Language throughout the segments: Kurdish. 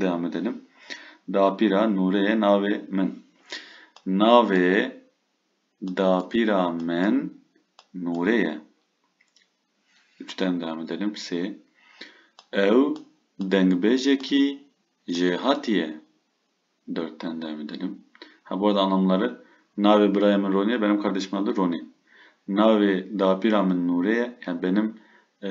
Dewam edelim. Dapîra Nûrê ye navê min. Navê dapîra min Nûrê ye. Üçten dewam edelim. Sê. Ew dengbêjekî jêhatî ye. Dörtten dewam edelim. Ha bu arada anlamları navê birayê min Ronî ye, benim kardeşimin adı Ronî. Navê dapîra min Nûrê ye. Yani benim e,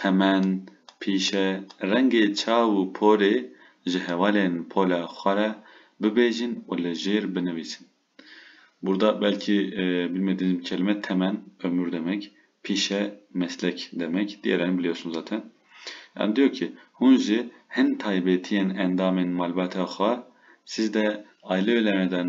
Temen, pîşe, rengê çav û porê ji hevalên pola xwe re bibêjin û li jêr binivîsin. Burada belkî bilmediğim bir kelime temen ömür demek, pîşe meslek demek, diğerlerini biliyorsunuz zaten. Yani diyor ki hûn ji hin taybetiyên endamên malbata xwe siz de aile üyelerine den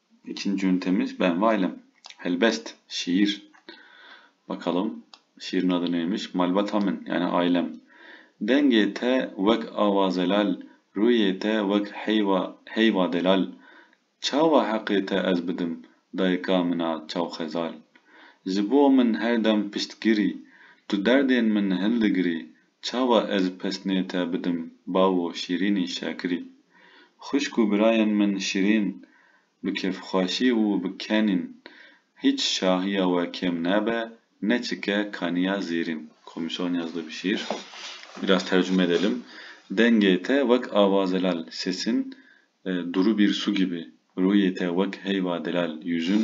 Niçin cûn temiz ben wailem? Helbest, şiir. Bakalım, şiirin adı neymiş? Malbata min, yani ailem. Dengê te wek awa zelal, rûyê te wek heyva heyva delal. Çawa heqê te ez bidim, dayika min a çawxezal. Ji bo min her dem piştgirî, tu derdên min hildigirî, Çawa ez pesnê te bidim bawo şîrînî şakirî. Xwişk û birayên min şîrîn bi kêfxweşî û bi kenîn hîç şahiya we kêm nabe ne çike kaniya zêrîn. Komîşo Niyaz Dubişîr, Biraz tercume edelim, Dengê te wek ava zelal, sesin duru bir su gibi, ruyê te wek heyva delal, yüzün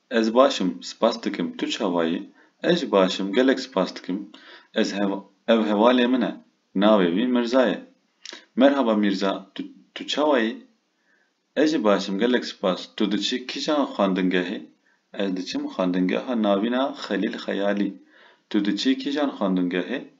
Ez baş im, spas dikim. Tu çawa yî? Ez jî baş im, gelek spas dikim. Ez hev ev hevalê min e. Navê wî Mirza ye. Merhaba Mîrza, tu tu çawa yî? Ez jî baş im, gelek spas. Tu diçî kîjan xwendingehê? Ez diçim xwendingeha Navîna Xelîl Xeyalî. Tu diçî kîjan xwendingehê?